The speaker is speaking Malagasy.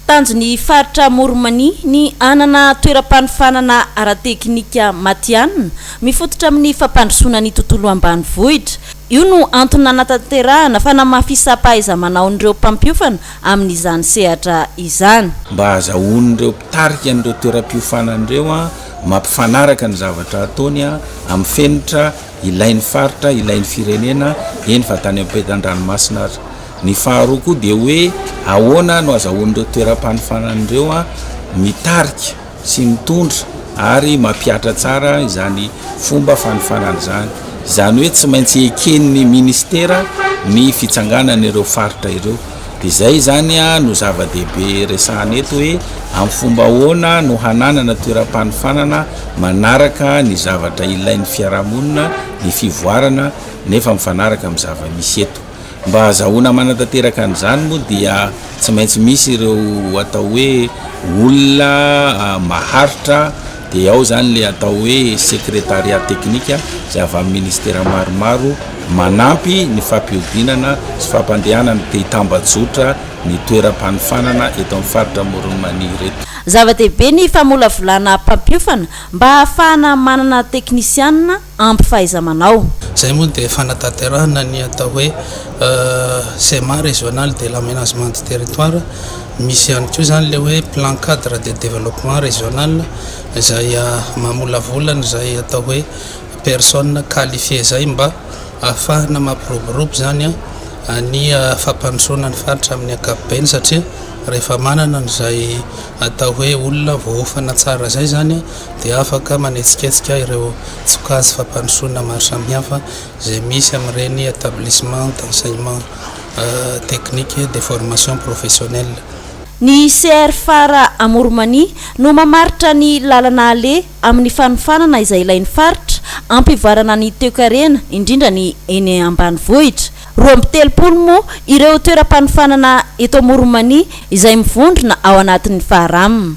Tanjon'ny faritra Amoronmania ny hanana toeram-panofanana ara-tekinika matihanina, mifototra amin'ny fampandrosoana ny tontolo ambanivohitra. Io no antony nanatanterahana fanamafisam-pahaiza-manaon'ireo mpampiofana amin'izany sehatra izany. Mba hahazahoan'ireo mpitarika an'ireo toeram-piofanana ireo mampifanaraka ny zavatra ataony amin'ny fenitra ilain'ny faritra, ilain'ny firenena, eny fa tany ampetan-dranomasina aza. Ny faharoa koa dia hoe ahoana no azahoan'ireo toeram-panofanana ireo mitarika sy mitondra ary mampihatra tsara izany fomba fanofanana izany. Izany hoe tsy maintsy eken'ny ministera ny fitsanganan'ireo faritra ireo. Dia izay izany no zava-dehibe resahana eto hoe amin'ny fomba ahoana no hananana toeram-panofanana manaraka ny zavatra ilain'ny fiarahamonina ny fivoarana nefa mifanaraka amin'ny zava-misy eto. Mba hahazahoana manatanteraka an'izany moa dia tsy maintsy misy ireo atao hoe olona maharitra Dia ao izany ilay atao hoe Secretariat Technique izay avy amin'ny Ministera maromaro manampy ny fampihodinana sy fampandehanana dia tambajotra ny toeram-panofanana eto amin'ny faritra Amoron'i Mania ireto. Zava-dehibe ny famolavolana mpampiofana mba hahafahana manana teknisianina ampy fahaiza-manao. Izay moa dia fanatanterahana ny atao hoe Schéma régional de l'aménagement du territoire. Misy ihany koa izany ilay hoe Plan cadre de développement régional izay mamolavola an'izay atao hoe personnes qualifiées izay mba ahafahana mampiroborobo izany ny fampandrosoana ny faritra amin'ny ankapobeny satria rehefa manana an'izay atao hoe olona voaofana tsara izay izany dia afaka manetsiketsika ireo tsokajy fampandrosoana maro samihafa izay misy amin'ireny Etablissements d'enseignement technique et de formation professionnelle. Ny CR Phare Amourmanie no mamaritra ny lalana aleha amin'ny fanofanana izay ilain'ny faritra hampivoarana ny toekarena, indrindra ny eny ambanivohitra. Roa amby telopolo moa ireo toeram-panofanana eto Amourmanie izay mivondrona ao anatin'ny Faram.